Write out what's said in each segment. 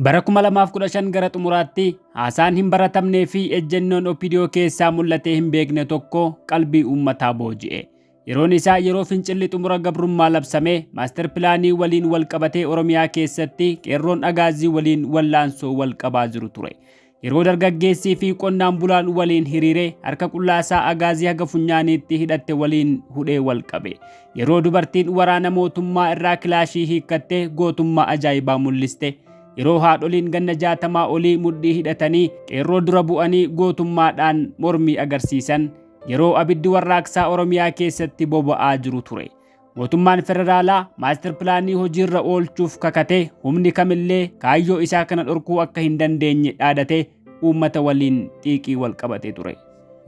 Bara 2015 gara xumuraatti haasaan hin baratamnee fi ejjennoon OPDO keessaa mul'atee hin beekne tokko qalbii uummataa booji'e. Yeroon isaa yeroo fincilli xumura gabrummaa labsame maaster pilaanii waliin wal qabatee Oromiyaa keessatti qeerroon agaazii waliin wallaansoo wal qabaa jiru ture. Yeroo dargaggeessii fi qonnaan bulaan waliin hiriire harka qullaa isaa agaazii haga funyaaniitti hidhatte waliin hudhee wal qabe. Yeroo dubartiin waraana mootummaa irraa kilaashii hiikkattee gootummaa ajaa'ibaa mul'iste. Yeroo haadholiin ganna jaatamaa olii mudhii hidhatanii qeerroo dura bu'anii gootummaadhaan mormii agarsiisan yeroo abiddi warraaqsaa Oromiyaa keessatti boba'aa jiru ture. Mootummaan federaalaa maastar pilaanii hojiirra oolchuuf kakatee humni kamillee kaayyoo isaa kana dhorkuu akka hin dandeenye dhaadatee uummata waliin xiiqii wal qabatee ture.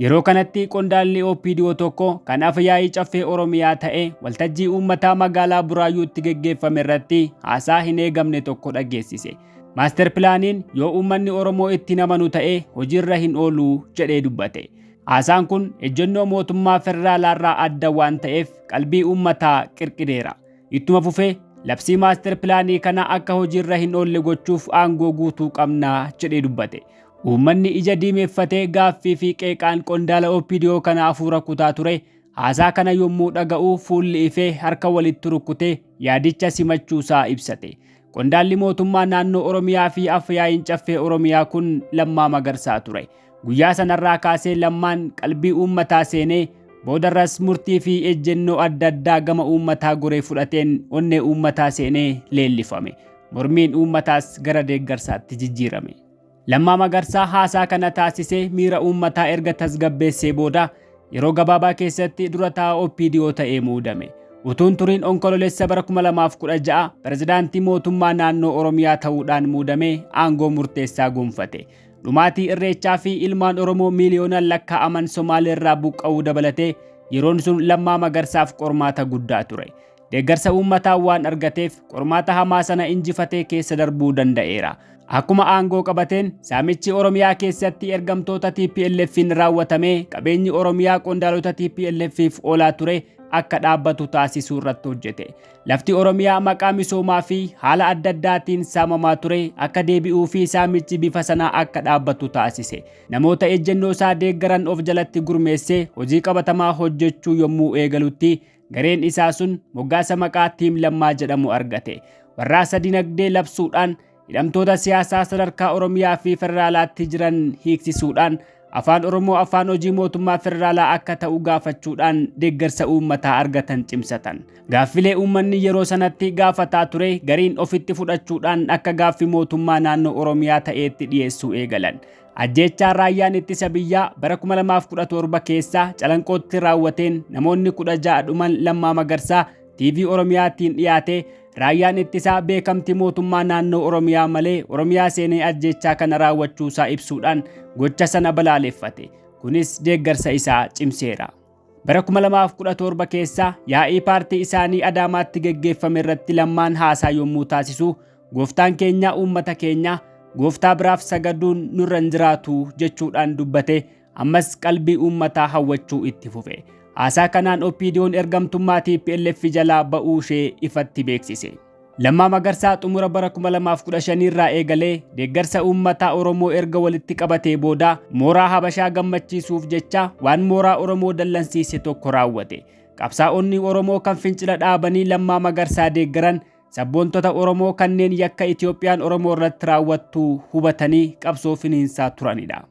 Yeroo kanatti qondaalli OPDO tokko kan afa yaa'ii caffee Oromiyaa ta'e waltajjii uummataa magaalaa Buraayyuutti geggeeffame irratti haasaa hin eegamne tokko dhageessise. Maastar pilaaniin yoo uummanni Oromoo itti hin amanu ta'e hojiirra hin oolu jedhee dubbate. Haasaan kun ejjennoo mootummaa federaalaarraa adda waan ta'eef qalbii uummataa qirqireera. Ittuma fufee labsii maaster pilaanii kana akka hojiirra hin oolle gochuuf aangoo guutuu qabna jedhee dubbate. Uummanni ija diimeffatee gaaffii fi qeeqaan qondaala OPDO kana hafuura kutaa ture haasaa kana yommuu dhaga'u fuulli ifee harka walitti rukkutee yaadicha simachuusaa ibsate. Qondaalli mootummaa naannoo Oromiyaa fi afyaa'iin caffee Oromiyaa kun Lammaa Magarsaa ture. Guyyaa sanarraa kaasee Lammaan qalbii uummataa seenee boodarras murtii fi ejjennoo adda addaa gama uummataa goree fudhateen onnee uummataa seenee leellifame. Mormiin uummataas gara deeggarsaatti jijjiirame. Lammaa Magarsaa haasaa kana taasisee miira uummataa erga tasgabbeessee booda yeroo gabaabaa keessatti dura taa'aa OPDO ta'ee muudame. Utuun turiin Onkololessa bara 2016 pirezidaantii mootummaa naannoo Oromiyaa ta'uudhaan muudamee aangoo murteessaa gonfate. Dhumaatii irreechaa fi ilmaan Oromoo miiliyoonaan lakkaa'aman Somaalee irraa buqqa'uu dabalatee yeroon sun Lammaa Magarsaaf qormaata guddaa ture. Deeggarsa uummataa waan argateef qormaata hamaa sana injifatee keessa darbuu danda'eera. Akkuma aangoo qabateen saamichi Oromiyaa keessatti ergamtoota TPLF'n raawwatamee qabeenyi Oromiyaa qondaalota TPLF'f oolaa ture akka dhaabbatu taasisuu irratti hojjete. Lafti Oromiyaa maqaa misoomaa fi haala adda addaatiin saamamaa ture akka deebi'uu fi saamichi bifa sanaa akka dhaabbatu taasise. Namoota ejjennoo isaa deeggaran of jalatti gurmeessee hojii qabatamaa hojjechuu yommuu eegalutti gareen isaa sun moggaasa maqaa Tiim Lammaa jedhamu argate. Warraaqsa dinagdee labsuudhaan Hidhamtoota siyaasaa sadarkaa Oromiyaa fi Federaalaatti jiran hiiksisuudhaan afaan Oromoo afaan hojii mootummaa federaalaa akka ta'u gaafachuudhaan deeggarsa uummataa argatan cimsatan. Gaaffilee uummanni yeroo sanatti gaafataa ture gariin ofitti fudhachuudhaan akka gaaffi mootummaa naannoo Oromiyaa ta'eetti dhiyeessuu eegalan. Ajjeechaa raayyaan ittisa biyyaa bara 2017 keessa calanqootti raawwateen namoonni 16 dhuman Lammaa Magarsaa TV Oromiyaatiin dhiyaate Raayyaan ittisaa beekamtii mootummaa naannoo Oromiyaa malee Oromiyaa seenee ajjeechaa kana raawwachuu isaa ibsuudhaan gocha sana balaaleffate. Kunis deeggarsa isaa cimseera. Bara 2017 keessa yaa'ii paartii isaanii Adaamaatti geggeeffame irratti lammaan haasaa yommuu taasisu gooftaan keenya uummata keenya gooftaa biraaf sagaduun nurra hin jiraatu jechuudhaan dubbate ammas qalbii uummataa hawwachuu itti fufe. Haasaa kanaan OPDOn ergamtummaa TPLF jalaa ba'uu ishee ifatti beeksise. Lammaa Magarsaa xumura bara 2015 irraa eegalee deeggarsa uummataa Oromoo erga walitti qabatee booda mooraa Habashaa gammachiisuuf jecha waan mooraa Oromoo dallansiise tokko raawwate. Qabsaa'onni Oromoo kan fincila dhaabanii Lammaa Magarsaa deeggaran sabboontota Oromoo kanneen yakka Itoophiyaan Oromoo irratti raawwattu hubatanii qabsoo finiinsaa turanidha.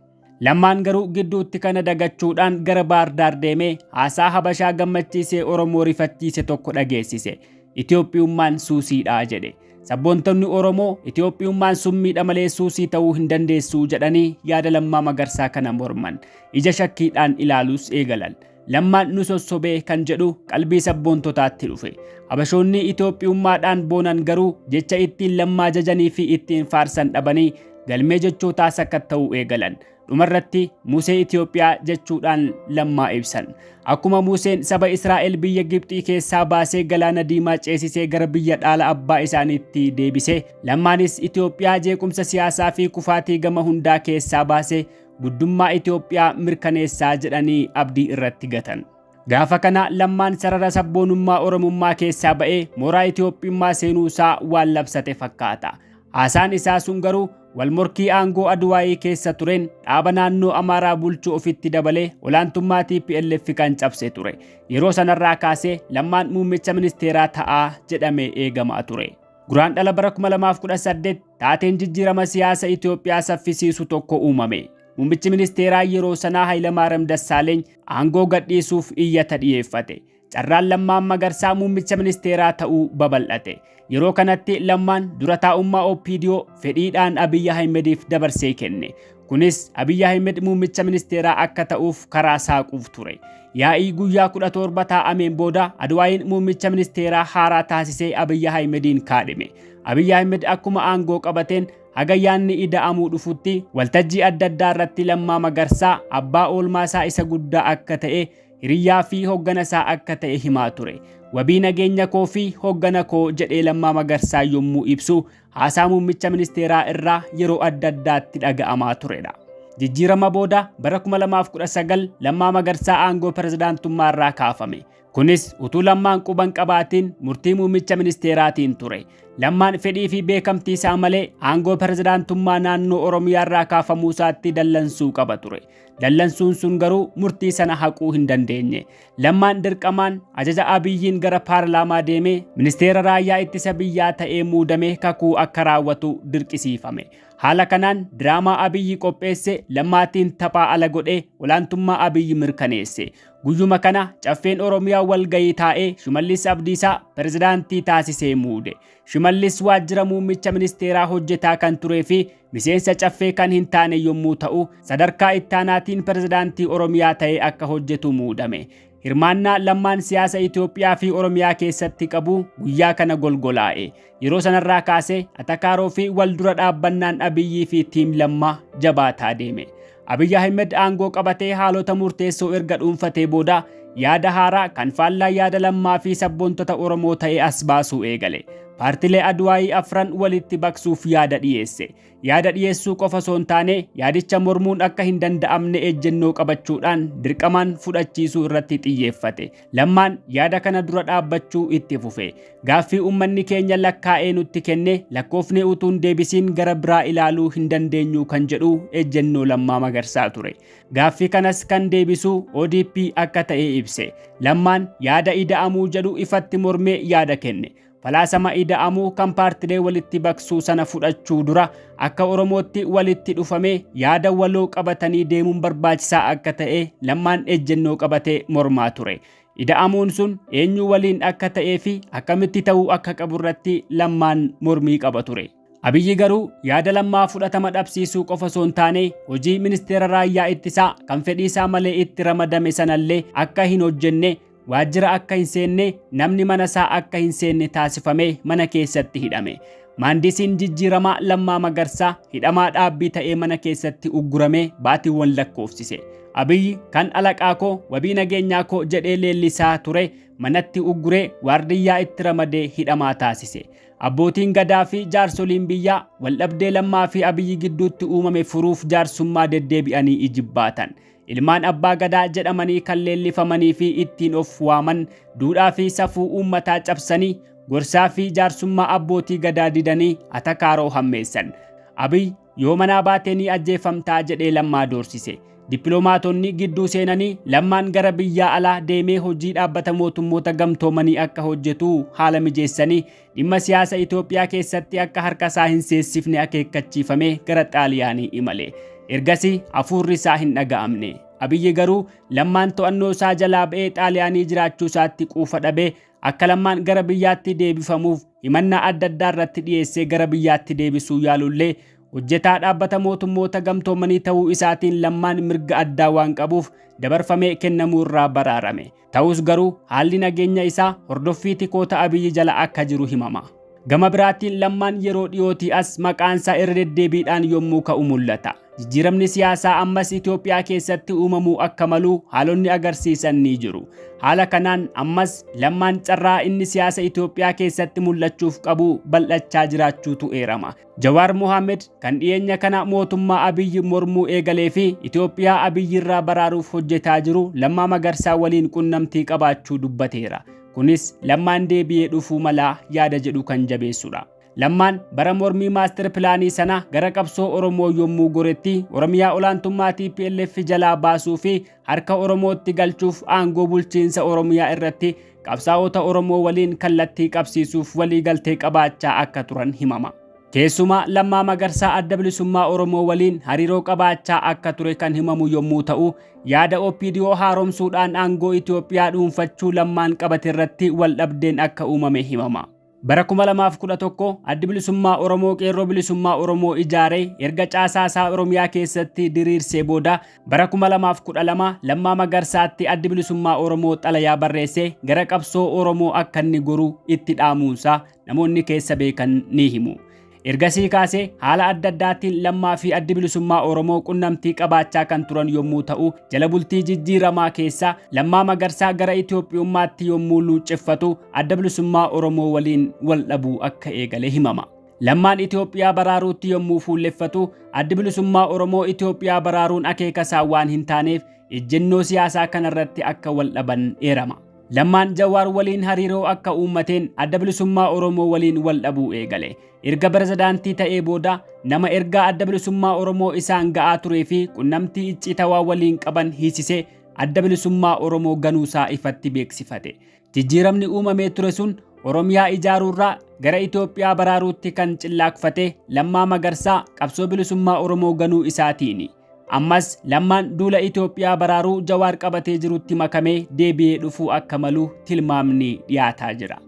Lammaan garuu gidduutti kana dagachuudhaan gara Baardaar deemee haasaa Habashaa gammachiisee Oromoo rifachiise tokko dhageessise. Itoophiyummaan suusiidha jedhe. Sabboontonni Oromoo Itoophiyummaan summiidha malee suusii ta'uu hin dandeessuu jedhanii yaada Lammaa Magarsaa kana morman. Ija shakkiidhaan ilaaluus eegalan. Lammaan nu sossobee kan jedhu qalbii sabboontotaatti dhufe. Habashoonni Itoophiyummaadhaan boonan garuu jecha ittiin lammaa jajanii fi ittiin faarsan dhabanii galmee jechootaa sakatta'uu eegalan. Dhumarratti Musee Itoophiyaa jechuudhaan lammaa ibsan. Akkuma Museen saba Israa'el biyya Gibxii keessaa baasee galaana diimaa ceesisee gara biyya dhaala abbaa isaaniitti deebise, lammaanis Itoophiyaa jeequmsa siyaasaa fi kufaatii gama hundaa keessaa baase guddummaa Itoophiyaa mirkaneessaa jedhanii abdii irratti gatan. Gaafa kana lammaan sarara sabboonummaa Oromummaa keessaa ba'ee mooraa Itoophiyummaa seenuu isaa waan labsate fakkaata. Haasaan isaa sun garuu wal morkii aangoo Adwaayii keessa tureen dhaaba naannoo Amaaraa bulchu ofitti dabalee olaantummaa TPLF kan cabse ture. Yeroo sanarraa kaasee lammaan muummicha ministeeraa ta'aa jedhamee eegamaa ture. Guraandhala bara 2018 taateen jijjiirama siyaasa Itoophiyaa saffisiisu tokko uumame. Muummichi ministeeraa yeroo sanaa Hayilamaariyaam Dassaaleeny aangoo gadhiisuuf iyyata dhiyeeffate. Carraan Lammaa Magarsaa muummicha ministeeraa ta'uu babal'ate. Yeroo kanatti Lammaan dura taa'ummaa OPDO fedhiidhaan Abiyyi Ahimediif dabarsee kenne. Kunis Abiy Ahmed muummicha ministeeraa akka ta'uuf karaa saaquuf ture. Yaa'ii guyyaa 17 taa'ameen booda Adwaayiin muummicha ministeeraa haaraa taasisee Abiy Ahmediin kaadhime. Abiy Ahmed akkuma aangoo qabateen haga yaanni ida'amuu dhufutti waltajjii adda addaa irratti Lammaa Magarsaa abbaa oolmaa isaa isa guddaa akka ta'e hiriyyaa fi hoggana isaa akka ta'e himaa ture. Wabii nageenya koo fi hoggana koo jedhee Lammaa Magarsaa yommuu ibsu haasaa muummicha ministeeraa irraa yeroo adda addaatti dhaga'amaa turedha. Jijjiirama booda bara 2019 Lammaa Magarsaa aangoo pirezidaantummaa irraa kaafame. Kunis utuu Lammaan quban qabaatiin murtii muummicha ministeeraatiin ture. Lammaan fedhii fi beekamtii isaa malee aangoo pirezidaantummaa naannoo Oromiyaa irraa kaafamuu isaatti dallansuu qaba ture. Dallansuun sun garuu murtii sana haquu hin dandeenye. Lammaan dirqamaan ajaja Abiyyiin gara paarlaamaa deemee ministeera raayyaa ittisa biyyaa ta'ee muudamee kakuu akka raawwatu dirqisiifame. Haala kanaan diraamaa Abiyyi qopheesse lammaatiin taphaa ala godhee olaantummaa Abiyyi mirkaneesse. Guyyuma kana caffeen Oromiyaa walgayii taa'ee Shimallis Abdiisaa pirezidaantii taasisee muude. Shimallis waajjira muummicha ministeeraa hojjetaa kan turee fi miseensa caffee kan hin taane yommuu ta'u, sadarkaa ittaanaatiin pirezidaantii Oromiyaa ta'ee akka hojjetu muudame. Hirmaannaa Lammaan siyaasa Itoophiyaa fi Oromiyaa keessatti qabu guyyaa kana golgolaa'e. Yeroo sanarraa kaasee atakaaroo fi wal dura dhaabbannaan Abiyyii fi Tiim Lammaa jabaataa deeme. Abiy Ahmed aangoo qabatee haalota murteessoo erga dhuunfatee booda yaada haaraa kan faallaa yaada lammaa fi sabboontota Oromoo ta'e as baasuu eegale. Paartilee Adwaayii afran walitti baqsuuf yaada dhiyeesse. Yaada dhiyeessuu qofa osoo hin taane yaadicha mormuun akka hin danda'amne ejjennoo qabachuudhaan dirqamaan fudhachiisuu irratti xiyyeeffate. Lammaan yaada kana dura dhaabbachuu itti fufe. Gaaffii uummanni keenya lakkaa'ee nutti kenne lakkoofnee utuu hin deebisiin gara biraa ilaaluu hin dandeenyu kan jedhu ejjennoo Lammaa Magarsaa ture. Gaaffii kanas kan deebisu ODP akka ta'e ibse. Lammaan yaada ida'amuu jedhu ifatti mormee yaada kenne. Falaasama ida'amuu kan paartilee walitti baqsuu sana fudhachuu dura akka Oromootti walitti dhufamee yaada waloo qabatanii deemuun barbaachisaa akka ta'e lammaan ejjennoo qabatee mormaa ture. Ida'amuun sun eenyu waliin akka ta'ee fi akkamitti ta'uu akka qabu irratti lammaan mormii qaba ture. Abiyyi garuu yaada lammaa fudhatama dhabsiisuu qofa osoo hin taane hojii ministeera raayyaa ittisaa kan fedhii isaa malee itti ramadame sanallee akka hin hojjenne waajjira akka hin seenne namni mana isaa akka hin seenne taasifame mana keessatti hidhame. Maandisiin jijjiiramaa Lammaa Magarsaa hidhamaa dhaabbii ta'ee mana keessatti ugguramee baatiiwwan lakkoofsise. Abiyyi kan alaqaa koo wabii nageenyaa koo jedhee leellisaa ture manatti ugguree waardiyyaa itti ramadee hidhamaa taasise. Abbootiin Gadaa fi jaarsoliin biyyaa waldhabdee Lammaa fi Abiyyi gidduutti uumame furuuf jaarsummaa deddeebi'anii ijibbaatan. Ilmaan Abbaa Gadaa jedhamanii kan leellifamanii fi ittiin of waaman duudhaa fi safuu uummataa cabsanii gorsaa fi jaarsummaa abbootii Gadaa didanii atakaaroo hammeessan. Abiy Yoo manaa baate ni ajjeeffamtaa jedhee Lammaa doorsise. Dippiloomaatonni gidduu seenanii Lammaan gara biyyaa alaa deemee hojii dhaabbata mootummoota gamtoomanii akka hojjetu haala mijeessanii dhimma siyaasa Itoophiyaa keessatti akka harka isaa hin seessifne akeekkachiifamee gara Xaaliyaanii imale. Ergasii hafuurri isaa hin dhaga'amne. Abiyyi garuu Lammaan to'annoo isaa jalaa ba'ee Xaaliyaanii jiraachuu isaatti quufa dhabee akka Lammaan gara biyyaatti deebifamuuf himannaa adda addaa irratti dhiyeessee gara biyyaatti deebisuu yaalullee hojjetaa dhaabbata mootummoota gamtoomanii ta'uu isaatiin lammaan mirga addaa waan qabuuf dabarfamee kennamuu irraa baraarame. Ta'us garuu haalli nageenya isaa hordoffii tikoota Abiyyi jala akka jiru himama. Gama biraatiin lammaan yeroo dhiyootii as maqaansaa irra deddeebiidhaan yommuu ka'u mul'ata. Jijjiiramni siyaasaa ammas Itoophiyaa keessatti uumamuu akka malu haalonni agarsiisan ni jiru. Haala kanaan ammas Lammaan carraa inni siyaasa Itoophiyaa keessatti mul'achuuf qabu bal'achaa jiraachuutu eerama. Jawaar Mohaammed kan dhiyeenya kana mootummaa Abiyyi mormuu eegalee fi Itoophiyaa Abiyyirraa baraaruuf hojjetaa jiru Lammaa Magarsaa waliin qunnamtii qabaachuu dubbateera. Kunis Lammaan deebi'ee dhufuu malaa yaada jedhu kan jabeessudha. Lammaan bara mormii maastar pilaanii sana gara qabsoo Oromoo yommuu goretti Oromiyaa olaantummaa TPLF jalaa baasuu fi harka Oromootti galchuuf aangoo bulchiinsa Oromiyaa irratti qabsaa'ota Oromoo waliin kallattii qabsiisuuf waliigaltee qabaachaa akka turan himama. Keessumaa Lammaa Magarsaa Adda Bilisummaa Oromoo waliin hariiroo qabaachaa akka ture kan himamu yommuu ta'u, yaada OPDO haaromsuudhaan aangoo Itoophiyaa dhuunfachuu Lammaan qabate irratti waldhabdeen akka uumame himama. Bara 2011 Addi Bilisummaa Oromoo Qeerroo Bilisummaa Oromoo ijaaree erga caasaa isaa Oromiyaa keessatti diriirsee booda bara 2012 Lammaa Magarsaatti Addi Bilisummaa Oromoo xalayaa barreessee gara qabsoo Oromoo akka inni goru itti dhaamuunsaa namoonni keessa beekan ni himu. Ergasii kaasee haala adda addaattiin Lammaa fi Addi Bilisummaa Oromoo qunnamtii qabaachaa kan turan yommuu ta'u, jala bultii jijjiiramaa keessa Lammaa Magarsaa gara Itoophiyummaatti yommuu luucceffatu Adda Bilisummaa Oromoo waliin wal dhabuu akka eegale himama. Lammaan Itoophiyaa baraaruutti yommuu fuulleffatu, Addi Bilisummaa Oromoo Itoophiyaa baraaruun akeekasaa waan hin taaneef ejjennoo siyaasaa kanarratti akka wal dhaban eerama. Lammaan Jawaar waliin hariiroo akka uummateen Adda Bilisummaa Oromoo waliin wal dhabuu eegale. Erga Pirezidaantii ta'ee booda nama ergaa Adda Bilisummaa Oromoo isaan ga'aa turee fi qunnamtii icciitawaa waliin qaban hiisisee Adda Bilisummaa Oromoo ganuusaa ifatti beeksifate. Jijjiiramni uumamee ture sun Oromiyaa ijaaruurraa gara Itoophiyaa baraaruutti kan cillaakfate Lammaa Magarsaa qabsoo bilisummaa Oromoo ganuu isaatiini. Ammas lammaan duula Itoophiyaa baraaruu Jawaar qabatee jirutti makamee deebi'ee dhufuu akka malu tilmaamni dhiyaataa jira.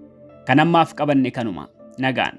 Kan ammaaf qabanne kanuma. Nagaan.